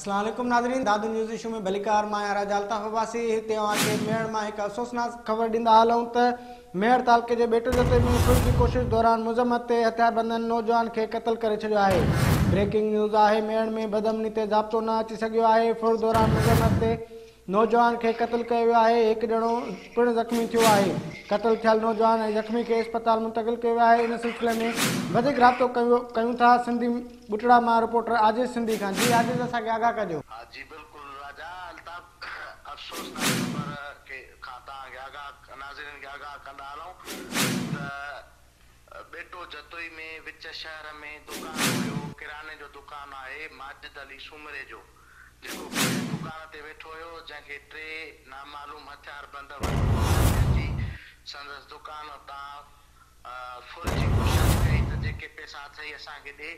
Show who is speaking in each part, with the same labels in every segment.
Speaker 1: اسلام عليڪم ناظرين دادو نيوز ايشو ۾ ڀليڪار مان آهيان راجا الطاف عباسي هتي اوهان کي ميهڙ مان هڪ افسوسناڪ خبر ڏيندا هلون ته ميهڙ تعلقي جي ٻيٽو جتي ۾ سوچ جي ڪوشش دوران مذمت تي هٿياربندن نوجوان کي قتل ڪري ڇڏيو آهي بريڪنگ نيوز آهي ميهڙ ۾ بدامني تي ضابطو نه اچي سگهيو آهي ڦر دوران مذمت تي نوجوان کي قتل ڪيو ويو آهي، هڪ ڄڻو پڻ زخمي ٿيو آهي، قتل ٿيل نوجوان ۽ زخمي کي اسپتال منتقل ڪيو ويو آهي، ان سلسلي ۾ وڌيڪ رابطو ڪيون ٿا، سنڌي ٻٽڙا مان رپورٽر عاجز سنڌي خان جي عاجز اسان کي آگاهه ڪجو. ها جي بلڪل
Speaker 2: راجا الطاف افسوسناڪ خبر کي کان توهان کي آگاهه ناظرين کي آگاهه ڪندا هلون ته. ٻيٽو جتوئي ۾ وچ شهر ۾ دڪان هيو، ڪراني جو دڪان آهي ماجد علي سومري جو، جيڪو پنهنجي دڪان تي ويٺو هيو، جنهن کي ٽي نامعلوم هٿياربند وٺو هٿ ۾ اچي سندس دڪان تان ڦر جي ڪوشش ڪئي ته جيڪي پئسا اٿئي اسان کي ڏي،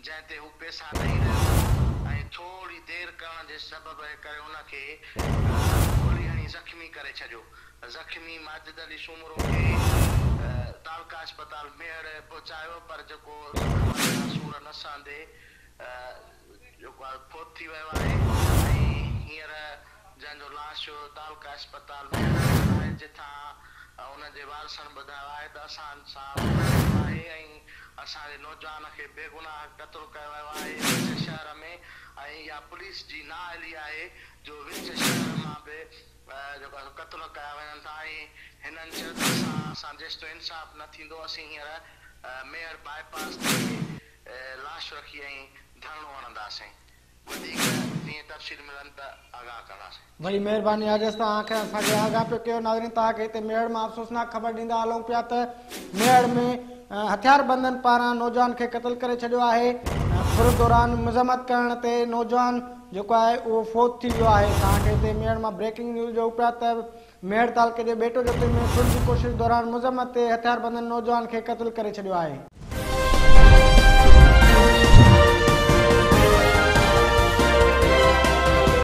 Speaker 2: جنهن تي هو پيسا ڏئي رهيو هو ۽ ٿوري دير ڪرڻ جي سبب ڪري ان کي گولي هڻي زخمي ڪري ڇڏيو. زخمي ماجد علي سومرو کي تعلقه اسپتال ميهڙ پهچايو پر جيڪو زخمن جا سور نه سهندي جيڪو آهي فوت ٿي ويو آهي ۽ هينئر جنهن جو لاش جو تعلقه اسپتال ميهڙ وارن آهي جتان انهن جي وارثن ٻڌايو آهي ته اسان سان ظلم ٿيو آهي ۽ اسان جي نوجوان کي بيگناهه قتل ڪيو ويو آهي وچ شهر ۾ ۽ اها پوليس جي نااهلي آهي جو وچ شهر مان به جيڪو آهي قتل ڪيا وڃن ٿا ۽ هنن چيو ته اسان سان جيستائين انصاف نه ٿيندو اسين هينئر ميهڙ باء پاس تي لاش رکي ۽ ڌرڻو هڻنداسين. وڌيڪ جيئن تفصيل ملن ته آگاهه ڪنداسين. وڏي مهرباني
Speaker 1: آجس ته اوهان کي اسان کي آگاهه پيو ڪيو ناظرين توهان کي هتي ميهڙ مان افسوسناڪ خبر ڏيندا هلون پيا ته ميهڙ ۾ هٿياربندن پاران نوجوان کي قتل ڪري ڇڏيو آهي ڦر دوران مذمت ڪرڻ تي نوجوان جيڪو آهي اهو فوت ٿي ويو آهي توهان کي هتي ميهڙ مان بريڪنگ نيوز ڏيون پيا ته ميهڙ تعلقي جي ٻيٽو جتي ۾ سول جي ڪوشش دوران مذمت تي هٿياربندن نوجوان کي قتل ڪري ڇڏيو آهي.